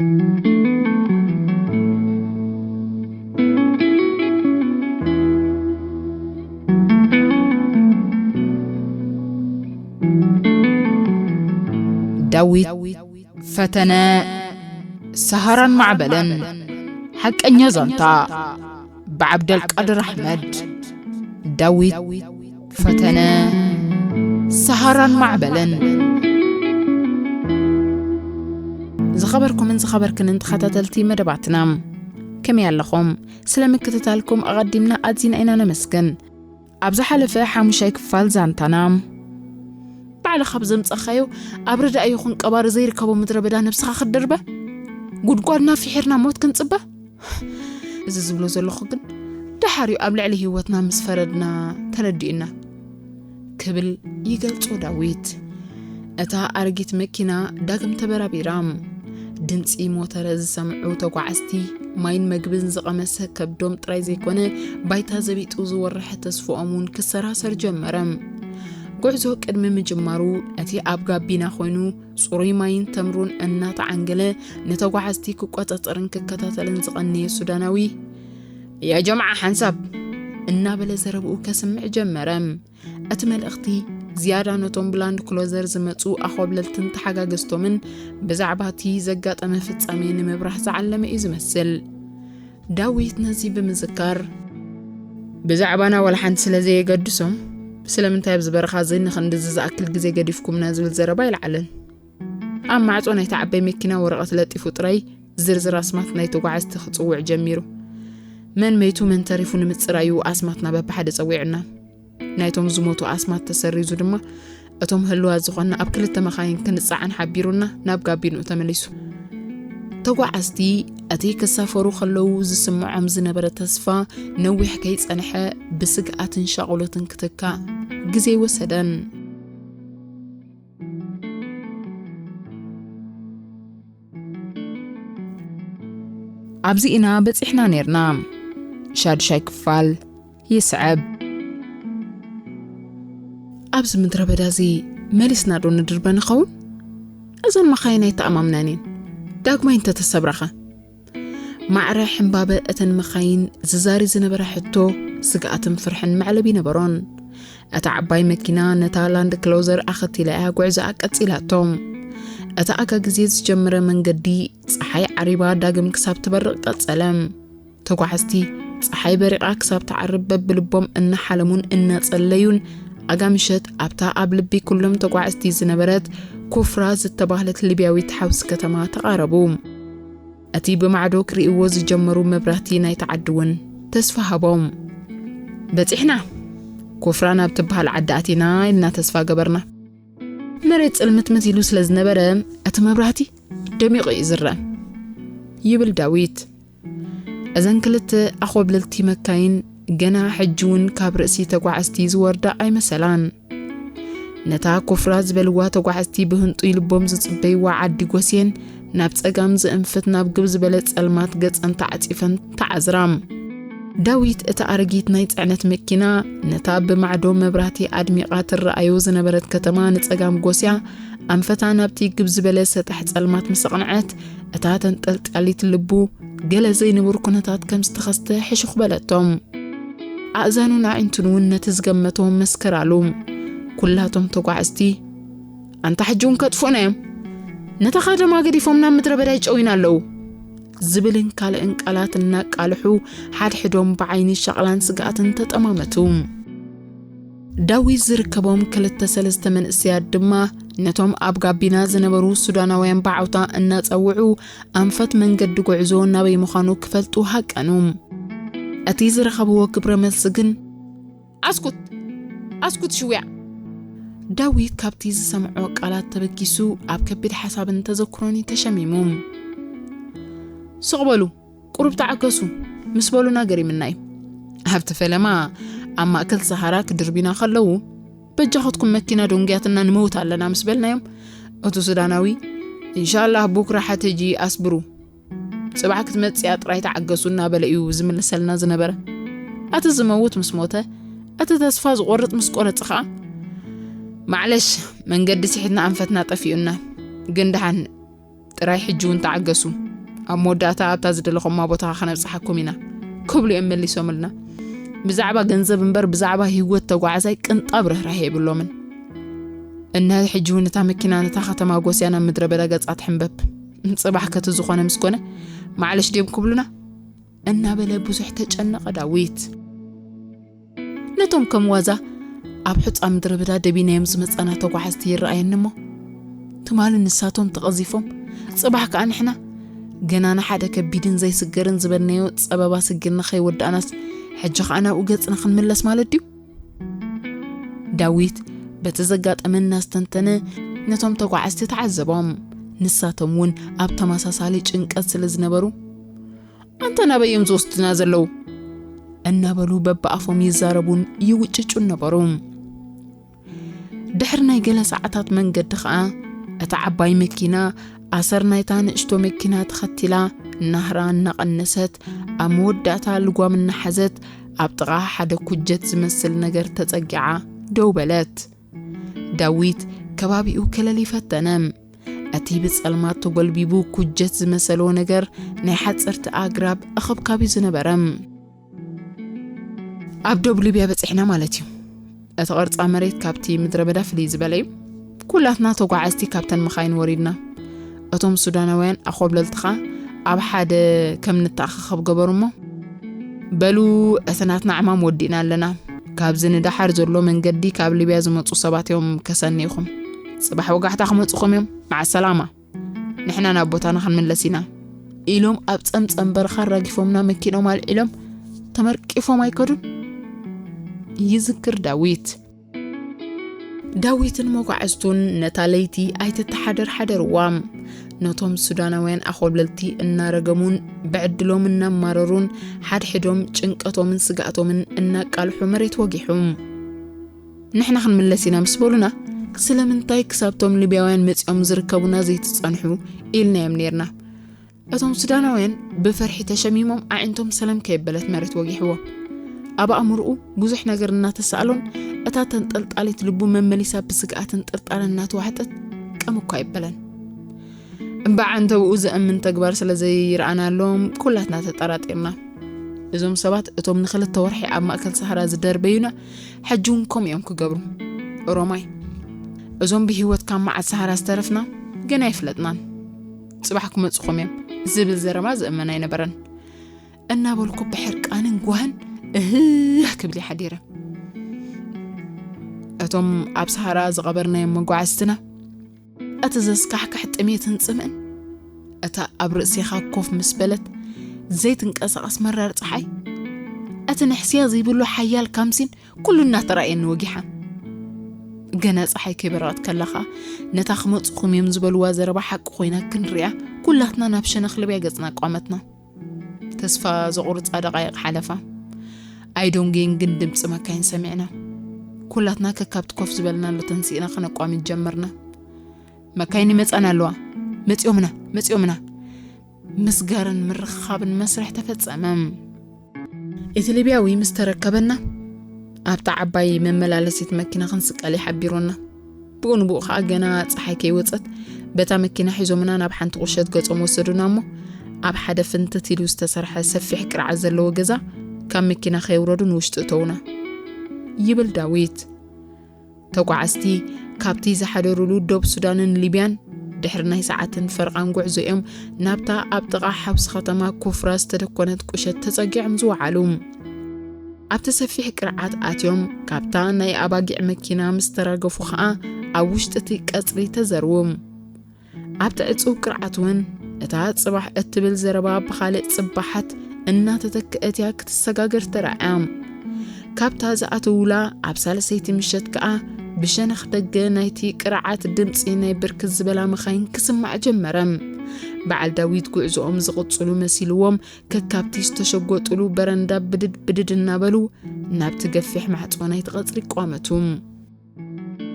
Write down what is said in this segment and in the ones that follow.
ዳዊት ፈተነ ሰሃራን ማዕበልን ሓቀኛ ዛንታ ብዓብደልቃድር ኣሕመድ፣ ዳዊት ፈተነ፣ ሰሃራን ማዕበልን። ዝኸበርኩምን ዝኸበርክንን ተኸታተልቲ መደባትና ከመይ ኣለኹም? ስለ ምክትታልኩም ኣቐዲምና ኣዚና ኢና ነመስግን። ኣብ ዝሓለፈ ሓሙሻይ ክፋል ዛንታና፣ ባዕልኻ ብዘምጻኻዮ ኣብ ረዳኢ ይኹን ቀባሪ ዘይርከቦ ምድረ በዳ ነብስኻ ክትድርበ፣ ጉድጓድና ፍሒርና ሞት ክንጽበ፣ እዚ ዝብሎ ዘለኹ ግን ደሓር እዩ ኣብ ልዕሊ ህይወትና ምስ ፈረድና ተረዲኡና ክብል ይገልጾ ዳዊት። እታ ኣረጊት መኪና ዳግም ተበራቢራ። ድምፂ ሞተረ ዝሰምዑ ተጓዓዝቲ ማይን መግብን ዝቐመሰ ከብዶም ጥራይ ዘይኮነ ባይታ ዘቢጡ ዝወርሐ ተስፍኦም እውን ክሰራሰር ጀመረ። ጉዕዞ ቅድሚ ምጅማሩ እቲ ኣብ ጋቢና ኮይኑ ጽሩይ ማይን ተምሩን እናተዓንገለ ንተጓዓዝቲ ክቆጻጸርን ክከታተልን ዝቐነየ ሱዳናዊ የጀምዓ ሓንሳብ እናበለ ዘረብኡ ከስምዕ ጀመረ። እቲ መልእኽቲ ዝያዳ ነቶም ብላንድ ክሎዘር ዝመጹ ኣኾብለልትን ተሓጋገዝቶምን ብዛዕባ እቲ ዘጋጠመ ፍጻሜ ንምብራህ ዝዓለመ እዩ ዝመስል። ዳዊት ነዚ ብምዝካር ብዛዕባና ዋላ ሓንቲ ስለ ዘየገድሶም ስለምንታይ ኣብዚ በረኻ እዚ ንኽንድዚ ዝኣክል ግዜ ገዲፍኩምና ዝብል ዘረባ ኣይለዓለን። ኣብ ማዕጾ ናይታ ዓባይ መኪና ወረቐት ለጢፉ ጥራይ ዝርዝር ኣስማት ናይ ተጓዓዝቲ ክጽውዕ ጀሚሩ። መን መይቱ መን ተሪፉ ንምጽራዩ ኣስማትና በብሓደ ጸዊዑና። ናይቶም ዝሞቱ ኣስማት ተሰሪዙ ድማ እቶም ህልዋት ዝኾና ኣብ ክልተ መኻይን ክንጻዓን ሓቢሩና ናብ ጋቢንኡ ተመሊሱ ተጓዓዝቲ እቲ ክሳፈሩ ከለዉ ዝስምዖም ዝነበረ ተስፋ ነዊሕ ከይጸንሐ ብስግኣትን ሻቑሎትን ክትካእ ግዜ ወሰደን ኣብዚ ኢና በጺሕና ነርና ሻዱሻይ ክፋል ይስዐብ ኣብዚ ምድረ በዳ እዚ መሊስና ዶ ንድርበ ንኸውን እዘን መኻይን ኣይተኣማምናን እየን ዳግማይ እንተተሰብራኸ ማዕረ ሕምባበ እተን መኻይን ዝዛሪ ዝነበረ ሕቶ ስግኣትን ፍርሕን መዕለቢ ነበሮን። እታ ዓባይ መኪና ነታ ላንድ ክሎዘር ኣኸቲላ እያ ጉዕዛኣ ቀጺላቶም እቲ ኣጋ ግዜ ዝጀመረ መንገዲ ፀሓይ ዓሪባ ዳግም ክሳብ ትበርቕ ቀጸለ። ተጓዓዝቲ ፀሓይ በሪቓ ክሳብ ትዓርብ በብልቦም እናሓለሙን እናጸለዩን ኣጋ ምሸት ኣብታ ኣብ ልቢ ኩሎም ተጓዓዝቲ ዝነበረት ኩፍራ ዝተባህለት ሊብያዊት ሓውሲ ከተማ ተቓረቡ። እቲ ብማዕዶ ክርእይዎ ዝጀመሩ መብራህቲ ናይቲ ዓዲ እውን ተስፋ ሃቦም። በጺሕና! ኮፍራ ናብ ትበሃል ዓዲ ኣቲና ኢልና ተስፋ ገበርና። መሬት ጽልምትምት ኢሉ ስለ ዝነበረ እቲ መብራህቲ ደሚቑ እዩ ዝረእ ይብል ዳዊት። እዘን ክልተ ኣኾብለልቲ መካይን ገና ሕጂ'ውን ካብ ርእሲ ተጓዓዝቲ ዝወርዳ ኣይመሰላን። ነታ ኮፍራ ዝበልዋ ተጓዓዝቲ ብህንጡይ ልቦም ዝጽበይዋ ዓዲ ጎስየን ናብ ጸጋም ዝእንፍት ናብ ግብ ዝበለ ጸልማት ገጸን ተዓጺፈን ተዓዝራ። ዳዊት እታ ኣረጊት ናይ ጽዕነት መኪና ነታ ብማዕዶ መብራህቲ ኣድሚቓ ትረኣዮ ዝነበረት ከተማ ንጸጋም ጎስያ ኣንፈታ ናብቲ ግብ ዝበለ ሰጣሕ ጸልማት ምስ ኣቕንዐት እታ ተንጠልጢያሊት ልቡ ገለ ዘይንቡር ኩነታት ከም ዝተኸስተ ሕሹኽ በለቶም። ኣእዛኑን ኣዒንቱን እውን ነቲ ዝገመቶ መስከራሉ። ኩላቶም ተጓዓዝቲ ኣንታ ሕጂ እውን ከጥፍኡና እዮም፣ ነታ ከተማ ገዲፎም ናብ ምድረ በዳ ይጨውዩና ኣለዉ ዝብልን ካልእን ቃላት እናቃልሑ ሓድሕዶም ብዓይኒ ሸቕላን ስግኣትን ተጠማመቱ። ዳዊት ዝርከቦም ክልተ ሰለስተ መንእሰያት ድማ ነቶም ኣብ ጋቢና ዝነበሩ ሱዳናውያን ብዓውታ እናጸውዑ ኣንፈት መንገዲ ጉዕዞ ናበይ ምዃኑ ክፈልጡ ሃቀኑ። እቲ ዝረኸብዎ ግብረ መልሲ ግን ኣስኩት! ኣስኩት ሽውያ! ዳዊት ካብቲ ዝሰምዖ ቃላት ተበጊሱ ኣብ ከቢድ ሓሳብን ተዘክሮን እዩ ተሸሚሙ። ስቕ በሉ! ቁሩብ ተዓገሱ! ምስ በሉና ገሪምና እዩ። ኣብቲ ፈለማ ኣብ ማእከል ሰሃራ ክድርቢና ከለዉ በጃኸትኩም መኪና ዶንግያትና ንመውት ኣለና ምስ በልናዮም እቱ ሱዳናዊ እንሻላህ ቡክራ ሓተጂ ኣስብሩ ጽባሕ ክትመጽያ ጥራይ ተዓገሱ እናበለ እዩ ዝምልሰልና ዝነበረ ኣቲ ዝመውት ምስ ሞተ እቲ ተስፋ ዝቆርጽ ምስ ቆረጽ ኸዓ ማዕለሽ መንገዲ ስሒትና ኣንፈትና ጠፊኡና ግን ደሓን ጥራይ ሕጂ እውን ተዓገሱ ኣብ መወዳእታ ኣብታ ዝደለኹማ ቦታ ከነብጽሓኩም ኢና ክብሉ እዮም መሊሶምልና ብዛዕባ ገንዘብ እምበር ብዛዕባ ህይወት ተጓዓዛይ ቅንጣብ ርህራሄ የብሎምን እነ ሕጂ እውን እታ መኪና ነታ ከተማ ጎስያ ናብ ምድረ በዳ ገጻ ትሕንበብ ጽባሕ ከቲ ዝኾነ ምስ ኮነ ማዕለሽ ድዮም ክብሉና እናበለ ብዙሕ ተጨነቐ ዳዊት ነቶም ከም ዋዛ ኣብ ሑፃ ምድረ ብዳ ደቢናዮም ዝመፃና ተጓዓዝቲ ይረኣየኒ እሞ ትማሊ ንሳቶም ተቐዚፎም ጽባሕ ከዓ ንሕና ገና ንሓደ ከቢድን ዘይስገርን ዝበልናዮ ጸበባ ስጊርና ከይወዳእናስ ሕጂ ከዓ ናብኡ ገጽና ክንምለስ ማለት ድዩ ዳዊት በቲ ዘጋጠመ እናስተንተነ ነቶም ተጓዓዝቲ ተዓዘቦም። ንሳቶም እውን ኣብ ተመሳሳሊ ጭንቀት ስለ ዝነበሩ ኣንታ ናበይ እዮም ዝወስዱና ዘለዉ እናበሉ በብኣፎም ይዛረቡን ይውጭጩን ነበሩ ድሕሪ ናይ ገለ ሰዓታት መንገዲ ኸኣ እታ ዓባይ መኪና ኣሰር ናይታ ንእሽቶ መኪና ተኸቲላ ናህራ እናቐነሰት ኣብ መወዳእታ ልጓም እናሓዘት ኣብ ጥቓ ሓደ ኩጀት ዝመስል ነገር ተጸጊዓ ደው በለት። ዳዊት ከባቢኡ ክለሊ ፈተነ። እቲ ብጸልማት ተጎልቢቡ ኩጀት ዝመሰሎ ነገር ናይ ሓጸርቲ ኣግራብ ኣኸብካብ እዩ ዝነበረ። ኣብ ዶብ ሊብያ በጺሕና ማለት እዩ። እቲ ቅርጻ መሬት ካብቲ ምድረ በዳ ፍልይ ዝበለ እዩ። ኩላትና ተጓዓዝቲ ካብተን መኻይን ወሪድና እቶም ሱዳናውያን ኣኾብለልትኻ ኣብ ሓደ ከም ንተኣኻኸብ ገበሩ እሞ፣ በሉ እቲ ናትና ዕማም ወዲእና ኣለና፣ ካብዚ ንደሓር ዘሎ መንገዲ ካብ ሊብያ ዝመጹ ሰባት እዮም ከሰንይኹም፣ ጽባሕ ወጋሕታ ክመጹኹም እዮም፣ መዓሰላማ፣ ንሕና ናብ ቦታና ክንምለስ ኢና። ኢሎም ኣብ ጸምጸም በረኻ ኣራጊፎምና መኪኖም ኣልዒሎም ተመርቂፎም ኣይከዱን። ይዝክር ዳዊት። ዳዊትን መጓዕዝቱን ነታ ለይቲ ኣይትተሓደር ሓደርዋ። ነቶም ሱዳናውያን ኣኾብለልቲ እናረገሙን ብዕድሎም እናማረሩን ሓድሕዶም ጭንቀቶምን ስጋእቶምን እናቃልሑ መሬት ወጊሑም ንሕና ክንምለስ ኢና ምስ በሉና ስለምንታይ ክሳብቶም ሊብያውያን መፂኦም ዝርከቡና ዘይትፀንሑ ኢልናዮም ነርና። እቶም ሱዳናውያን ብፍርሒ ተሸሚሞም ኣዒንቶም ሰለም ከየበለት መሬት ወጊሕዎም ኣብ ኣእምርኡ ብዙሕ ነገር እናተሳእሎን እታ ተንጠልጣሊት ልቡ መመሊሳ ብስግኣትን ጥርጣረን እናተዋሕጠት ቀም እኳ ኣይበለን እምበዓ እንተብኡ ዘእምን ተግባር ስለ ዘይረኣናሎም ኩላትና ተጠራጢርና እዞም ሰባት እቶም ንክልተ ወርሒ ኣብ ማእከል ሰሃራ ዝደርበዩና ሕጂ እውን ከምኡ እዮም ክገብሩ ሮማይ እዞም ብሂወት ካብ መዓት ሰሃራ ዝተረፍና ገና ኣይፍለጥናን ጽባሕ ክመጽኹም እዮም ዝብል ዘረባ ዝእመን ኣይነበረን እናበልኩ ብሕርቃንን ጓህን እህህ ክብል ይሓዲረ እቶም ኣብ ሰሃራ ዝቐበርናዮም መጓዓዝትና እቲ ዘስካሕክሕ ጥሜትን ጽምእን እታ ኣብ ርእሴኻ ኮፍ ምስ በለት ዘይትንቀሳቐስ መራር ፀሓይ እቲ ንሕስያ ዘይብሉ ሓያል ካምሲን ኩሉ እናተራእየኒ ወጊሓ ገና ፀሓይ ከይበረቐት ከላ ኸኣ ነታ ክመፅኹም እዮም ዝበልዋ ዘረባ ሓቂ ኮይና ክንሪኣ ኩላትና ናብ ሸነኽ ልብያ ገፅና ኣቋመትና ተስፋ ዘቑርፃ ደቃይቕ ሓለፋ ኣይዶንጌን ግን ድምፂ መካይን ሰሚዕና ኩላትና ከካብቲ ኮፍ ዝበልናሉ ተንሲእና ከነቋሚት ጀመርና መካይን ይመፃና ኣለዋ መፂኦምና መፂኦምና ምስጋርን ምርኽኻብን መስርሕ ተፈጸመ። እቲ ሊብያዊ ምስ ተረከበና ኣብታ ዓባይ መመላለሲት መኪና ክንስቀል ይሓቢሩና ብኡ ንብኡ ከዓ ገና ፀሓይ ከይወፀት በታ መኪና ሒዞምና ናብ ሓንቲ ቁሸት ገጾም ወሰዱና እሞ ኣብ ሓደ ፍንትት ኢሉ ዝተሰርሐ ሰፊሕ ቅርዓት ዘለዎ ገዛ ካብ መኪና ከየውረዱ ንውሽጢ እተውና ይብል ዳዊት ተጓዓዝቲ ካብቲ ዝሓደሩሉ ዶብ ሱዳንን ሊብያን ድሕሪ ናይ ሰዓትን ፈርቓን ጉዕዞ እዮም ናብታ ኣብ ጥቓ ሓውሲ ከተማ ኩፍራ ዝተደኮነት ቁሸት ተጸጊዖም ዝወዓሉ። ኣብቲ ሰፊሕ ቅርዓት ኣትዮም ካብታ ናይ ኣባጊዕ መኪና ምስ ተራገፉ ኸኣ ኣብ ውሽጢ እቲ ቀጽሪ ተዘርዉ። ኣብቲ ዕጽው ቅርዓት እውን እታ ጽባሕ እትብል ዘረባ ብኻልእ ጽባሓት እናተተክአት እያ ክትሰጋገር ተራእያ። ካብታ ዝኣተውላ ኣብ ሳልሰይቲ ምሸት ከኣ ብሸነኽ ደገ ናይቲ ቅርዓት ድምጺ ናይ ብርክት ዝበላ መኻይን ክስማዕ ጀመረ። በዓል ዳዊት ጉዕዞኦም ዝቕጽሉ መሲልዎም ከካብቲ ዝተሸጎጥሉ በረንዳ ብድድ ብድድ እናበሉ ናብቲ ገፊሕ ማዕጾ ናይቲ ቐጽሪ ቋመቱ።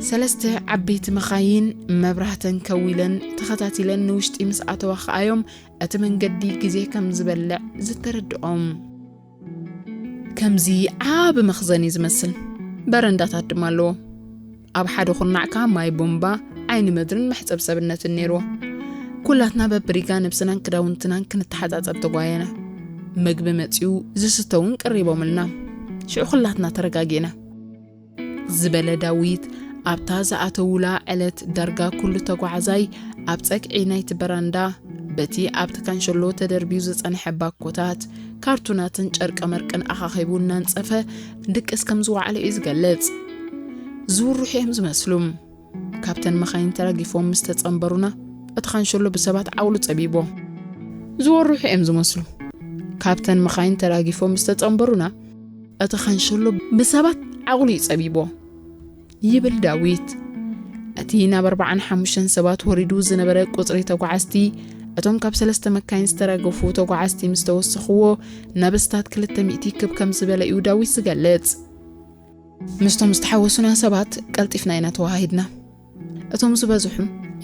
ሰለስተ ዓበይቲ መኻይን መብራህተን ከዊለን ተኸታቲለን ንውሽጢ ምስ ኣተዋ ከኣዮም እቲ መንገዲ ግዜ ከም ዝበልዕ ዝተረድኦም። ከምዚ ዓቢ መኽዘን እዩ ዝመስል፣ በረንዳታት ድማ ኣለዎ። ኣብ ሓደ ኩርናዕ ከኣ ማይ ቦምባ፣ ዓይኒ ምድርን መሕጸብ ሰብነትን ነይርዎ። ኩላትና በብሪጋ ነብስናን ክዳውንትናን ክንተሓጻጸብ ተጓየና። መግቢ መጺኡ፣ ዝስተ እውን ቀሪቦምልና። ሽዑ ኩላትና ተረጋጊእና። ዝበለ ዳዊት፣ ኣብታ ዝኣተዉላ ዕለት ዳርጋ ኩሉ ተጓዓዛይ ኣብ ጸግዒ ናይቲ በራንዳ በቲ ኣብቲ ካንሸሎ ተደርብዩ ዝጸንሐ ባኮታት፣ ካርቱናትን ጨርቀመርቅን ኣኻኺቡ እናንጸፈ ድቅስ ከም ዝወዓለ'ዩ ዝገልጽ። ዝውርሑ'ዮም ዝመስሉ። ካብተን መኻይን ተራጊፎም ምስ ተጸንበሩና፣ እቲ ካንሸሎ ብሰባት ዓቕሉ ጸቢቦ። ዝወርሑ እዮም ዝመስሉ። ካብተን መኻይን ተራጊፎም ምስ ተጸንበሩና፣ እቲ ካንሸሎ ብሰባት ዓቕሉ እዩ ጸቢቦ ይብል ዳዊት። እቲ ናብ ኣርባዓን ሓሙሽተን ሰባት ወሪዱ ዝነበረ ቁጽሪ ተጓዓዝቲ እቶም ካብ ሰለስተ መካይን ዝተራገፉ ተጓዓዝቲ ምስ ተወሰኽዎ ናብ እስታት ክልተ ሚእቲ ክብ ከም ዝበለ እዩ ዳዊት ዝገልጽ። ምስቶም ዝተሓወሱና ሰባት ቀልጢፍና ኢና ተወሃሂድና። እቶም ዝበዝሑ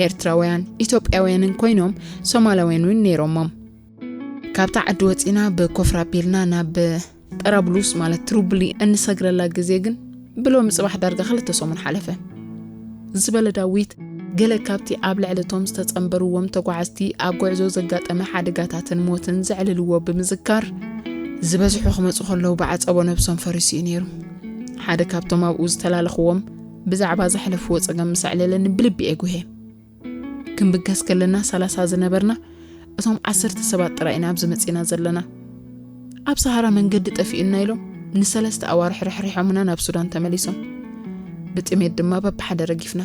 ኤርትራውያን ኢትዮጵያውያንን ኮይኖም ሶማላውያን እውን ነይሮሞም። ካብታ ዓዲ ወፂና ብኮፍራ ኣቢልና ናብ ጠራብሉስ ማለት ትሩብሊ እንሰግረላ ግዜ ግን ብሎሚ ፅባሕ ዳርጋ ክልተ ሰሙን ሓለፈ። ዝበለ ዳዊት፣ ገለ ካብቲ ኣብ ልዕሊ እቶም ዝተጸንበርዎም ተጓዓዝቲ ኣብ ጕዕዞ ዘጋጠመ ሓደጋታትን ሞትን ዘዕልልዎ ብምዝካር፣ ዝበዝሑ ክመጹ ከለዉ ብዓጸቦ ነብሶም ፈሪሱ እዩ ነይሩ፣ ሓደ ካብቶም ኣብኡ ዝተላለኽዎም ብዛዕባ ዘሕለፍዎ ጸገም ምስ ኣዕለለኒ ብልቢ እየ ጕህየ። ክንብገስ ከለና ሰላሳ ዝነበርና እቶም ዓሰርተ ሰባት ጥራይ ኢና ኣብዚ መጺና ዘለና ኣብ ሰሃራ መንገዲ ጠፊኡና ኢሎም ንሰለስተ ኣዋርሕ ርሕሪሖምና ናብ ሱዳን ተመሊሶም ብጥሜት ድማ በብሓደ ረጊፍና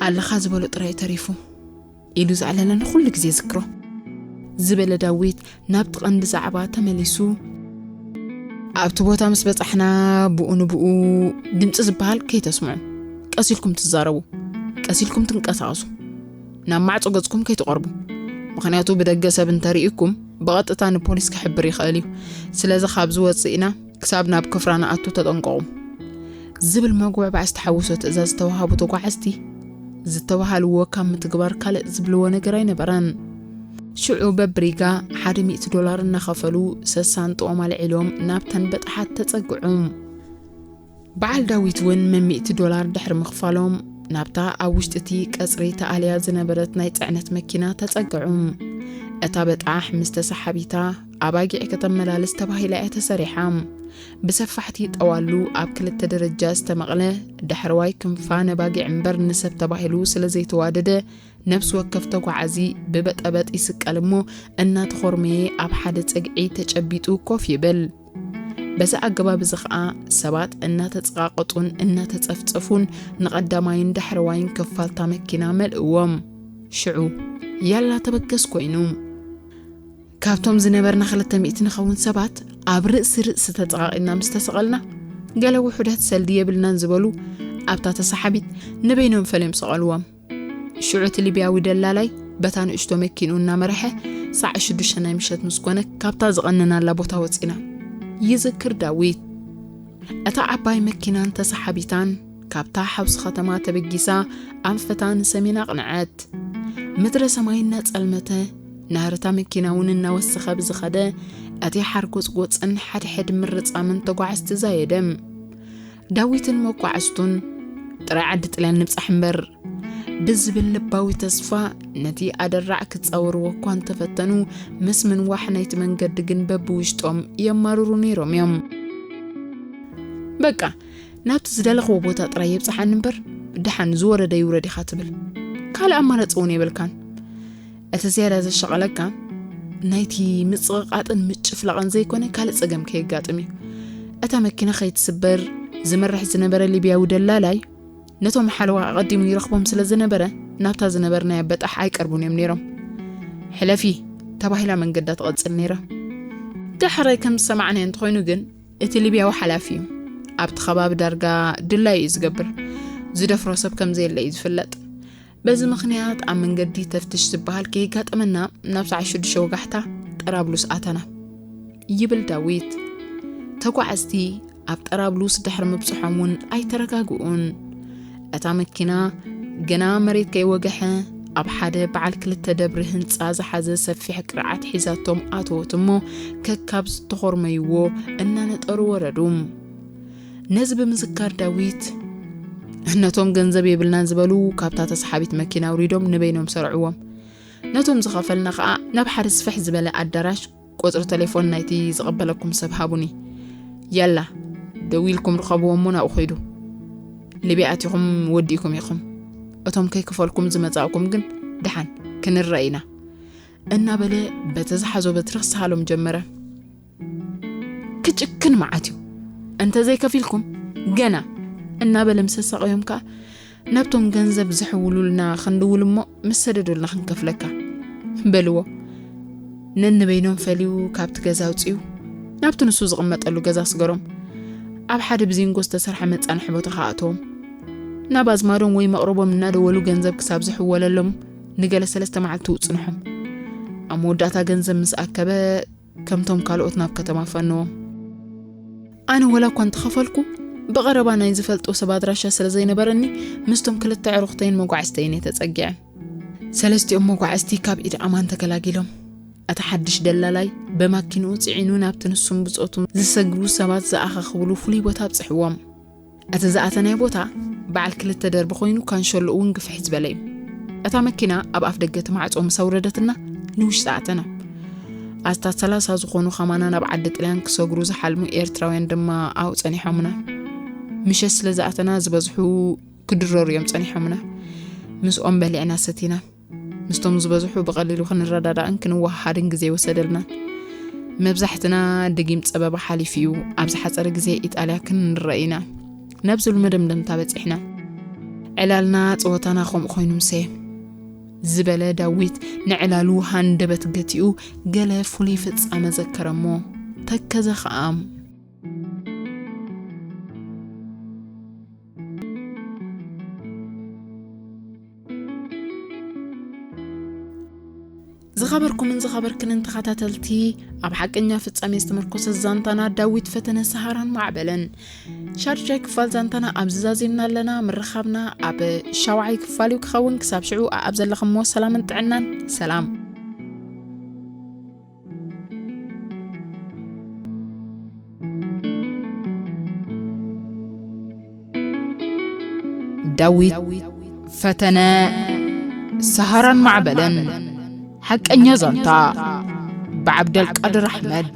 ኣለኻ ዝበሎ ጥራይ ተሪፉ ኢሉ ዘዕለለኒ ኩሉ ግዜ ዝክሮ ዝበለ ዳዊት ናብቲ ቀንዲ ዛዕባ ተመሊሱ። ኣብቲ ቦታ ምስ በጻሕና ብኡ ንብኡ ድምጺ ዝበሃል ከይተስምዑ፣ ቀስ ኢልኩም ትዛረቡ፣ ቀስ ኢልኩም ትንቀሳቐሱ፣ ናብ ማዕጾ ገጽኩም ከይትቐርቡ፣ ምኽንያቱ ብደገ ሰብ እንተሪኢኩም ብቐጥታ ንፖሊስ ክሕብር ይኽእል እዩ፣ ስለዚ ካብዚ ወጺእና ክሳብ ናብ ክፍራ ንኣቱ ተጠንቀቑ ዝብል መጉዕባዕ ዝተሓወሶ ትእዛዝ ዝተዋሃቡ ተጓዓዝቲ ዝተባሃልዎ ካብ ምትግባር ካልእ ዝብልዎ ነገር ኣይነበረን። ሽዑ በብሪጋ ሓደ ሚእቲ ዶላር እናኸፈሉ ሰሳንጥኦም ኣልዒሎም ናብተን በጣሓት ተጸግዑ። በዓል ዳዊት እውን መሚእቲ ዶላር ድሕሪ ምኽፋሎም ናብታ ኣብ ውሽጢ እቲ ቀጽሪ ተኣልያ ዝነበረት ናይ ጽዕነት መኪና ተጸግዑ። እታ በጣሕ ምስ ተሰሓቢታ ኣባጊዕ ከተመላልስ ተባሂላ እያ ተሰሪሓ። ብሰፋሕቲ ጠዋሉ ኣብ ክልተ ደረጃ ዝተመቕለ ዳሕረዋይ ክንፋ ነባጊዕ እምበር ንሰብ ተባሂሉ ስለ ዘይተዋደደ ነብሲ ወከፍ ተጓዓዚ ብበጠበጥ ይስቀል እሞ እናተኾርመየ ኣብ ሓደ ጸግዒ ተጨቢጡ ኮፍ ይብል። በዚ ኣገባብ እዚ ኸኣ ሰባት እናተጸቓቐጡን እናተጸፍጸፉን ንቐዳማይን ዳሕረዋይን ክፋልታ መኪና መልእዎም። ሽዑ ያላ ተበገስ ኮይኑ። ካብቶም ዝነበርና ክልተ ሚእቲ ንኸውን ሰባት ኣብ ርእሲ ርእሲ ተጸቓቒጥና ምስ ተሰቐልና ገለ ውሑዳት ሰልዲ የብልናን ዝበሉ ኣብታ ተሰሓቢት ንበይኖም ፈልዮም ሰቐልዎም። ሽዑ እቲ ሊብያዊ ደላላይ በታ ንእሽቶ መኪንኡ እናመርሐ ሳዕ ሽዱሽተ ናይ ምሸት ምስ ኮነ ካብታ ዝቐነናላ ቦታ ወፂና ይዝክር ዳዊት እታ ዓባይ መኪናን ተሰሓቢታን ካብታ ሓውሲ ከተማ ተበጊሳ ኣንፈታ ንሰሜን ኣቕንዐት። ምድረ ሰማይ እናጸልመተ ናህርታ መኪና እውን እናወሰኸ ብዝኸደ እቲ ሓርጎጽጎጽን ሓድሕድ ምርጻምን ተጓዓዝቲ ዛየደም ዳዊትን መጓዕዝቱን ጥራይ ዓዲ ጥልያን ንብጻሕ እምበር ብዝብል ልባዊ ተስፋ ነቲ ኣደራዕ ክጻወርዎ እኳ እንተፈተኑ ምስ ምንዋሕ ናይቲ መንገዲ ግን በብውሽጦም የማርሩ ነይሮም እዮም በቃ ናብቲ ዝደለኽዎ ቦታ ጥራይ የብጽሓኒ እምበር ድሓን ዝወረደ ይውረድ ኢኻ ትብል ካልእ ኣማራጺ እውን የብልካን እቲ ዝያዳ ዘሻቐለካ ናይቲ ምጽቕቓጥን ምጭፍላቕን ዘይኮነ ካልእ ጸገም ከየጋጥም እዩ እታ መኪና ከይትስበር ዝመርሕ ዝነበረ ሊብያዊ ደላላይ ነቶም ሓለዋ ኣቐዲሙ ይረኽቦም ስለ ዝነበረ ናብታ ዝነበርናያ በጣሕ ኣይቀርቡን እዮም ነይሮም ሕለፊ ተባሂላ መንገዳ ትቐጽል ነይራ ድሕረ ከም ዝሰማዕናዮ እንተኾይኑ ግን እቲ ሊብያዊ ሓላፊ እዩ ኣብቲ ከባቢ ዳርጋ ድላይ እዩ ዝገብር ዝደፍሮ ሰብ ከም ዘየለ እዩ ዝፍለጥ በዚ ምኽንያት ኣብ መንገዲ ተፍትሽ ዝበሃል ከይጋጠመና ናብ ሰዓት ሽዱሽተ ወጋሕታ ጠራብሉስ ኣተና ይብል ዳዊት። ተጓዓዝቲ ኣብ ጠራብሉስ ድሕሪ ምብጽሖም እውን ኣይተረጋግኡን። እታ መኪና ግና መሬት ከይወገሐ ኣብ ሓደ በዓል ክልተ ደብሪ ህንፃ ዝሓዘ ሰፊሕ ቅርዓት ሒዛቶም ኣተወት እሞ ከካብ ዝተኾርመይዎ እናነጠሩ ወረዱ። ነዚ ብምዝካር ዳዊት ነቶም ገንዘብ የብልናን ዝበሉ ካብታ ተሰሓቢት መኪና ኣውሪዶም ንበይኖም ሰርዕዎም ነቶም ዝኸፈልና ከዓ ናብ ሓደ ስፍሕ ዝበለ ኣዳራሽ ቁፅሪ ቴሌፎን ናይቲ ዝቐበለኩም ሰብ ሃቡኒ ያላ ደው ኢልኩም ርኸብዎ እሞ ናብኡ ኸይዱ ሊብያ ኣቲኹም ወዲእኩም ኢኹም እቶም ከይክፈልኩም ዝመፃእኩም ግን ድሓን ክንረአ ኢና እናበለ በቲ ዝሓዞ በትሪ ክሰሃሎም ጀመረ ክጭክን መዓት እዩ እንተዘይከፊልኩም ገና እናበለ ምስ ኣሳቐዮም ከዓ ናብቶም ገንዘብ ዝሕውሉልና ክንድውል እሞ ምስ ሰደዱልና ክንከፍለካ በልዎ ነንበይኖም ፈልዩ ካብቲ ገዛ ኣውፅኡ ናብቲ ንሱ ዝቕመጠሉ ገዛ ስገሮም ኣብ ሓደ ብዚንጎ ዝተሰርሐ መፃንሒ ቦታ ከኣተዎም ናብ ኣዝማዶም ወይ መቕረቦም እናደወሉ ገንዘብ ክሳብ ዝሕወለሎም ንገለ ሰለስተ መዓልቲ ውፅንሖም ኣብ መወዳእታ ገንዘብ ምስ ኣከበ ከምቶም ካልኦት ናብ ከተማ ፈንዎም። ኣነ ወላ እኳ እንተኸፈልኩ ብቐረባ ናይ ዝፈልጦ ሰብ ኣድራሻ ስለ ዘይነበረኒ ምስቶም ክልተ ኣዕሩኽተይን መጓዕዝተይን እየ ተጸጊዐ። ሰለስቲኦም መጓዕዝቲ ካብ ኢድ ኣማን ተገላጊሎም። እቲ ሓድሽ ደላላይ በማኪንኡ ጽዒኑ ናብቲ ንሱን ብጾቱን ዝሰግሩ ሰባት ዝኣኻኽብሉ ፍሉይ ቦታ ኣብጽሕዎም። እቲ ዝኣተናዮ ቦታ በዓል ክልተ ደርቢ ኮይኑ ካንሸሎኡ እውን ግፍሕ ዝበለ እዩ። እታ መኪና ኣብ ኣፍ ደገ እቲ ማዕጾ ምስ ኣውረደትና ንውሽጢ ኣተና። ኣስታት ሰላሳ ዝኾኑ ከማና ናብ ዓዲ ጥልያን ክሰግሩ ዝሓልሙ ኤርትራውያን ድማ ኣብኡ ጸኒሖምና። ምሸት ስለ ዝኣተና ዝበዝሑ ክድረሩ እዮም ጸኒሖምና። ምስኦም በሊዕና ሰቲና። ምስቶም ዝበዝሑ ብቐሊሉ ክንረዳዳእን ክንወሃሃድን ግዜ ኣይወሰደልናን። መብዛሕትና ድጊም ጸበባ ሓሊፉ እዩ፣ ኣብ ዝሓጸረ ግዜ ኢጣልያ ክንረእ ኢና ነብዝሉ መደምደምታ በጺሕና። ዕላልና ጸወታና ከምኡ ኮይኑ ምሰ ዝበለ ዳዊት ንዕላሉ ሃንደበት ገቲኡ ገለ ፍሉይ ፍጻመ ዘከረ እሞ ተከዘ ከኣም ዝኸበርኩምን ዝኸበርክንን ተኸታተልቲ ኣብ ሓቀኛ ፍጻሜ ዝተመርኮሰ ዛንታና ዳዊት ፈተነ ሰሃራን ማዕበልን ሻዱሻይ ክፋል ዛንታና ኣብዚ ዛዚምና ኣለና ምርኻብና ኣብ ሻውዓይ ክፋል እዩ ክኸውን ክሳብ ሽዑ ኣብ ዘለኹምዎ ሰላምን ጥዕናን ሰላም ዳዊት ፈተነ ሰሃራን ማዕበልን ሓቀኛ ዛንታ ብዓብደልቃድር ኣሕመድ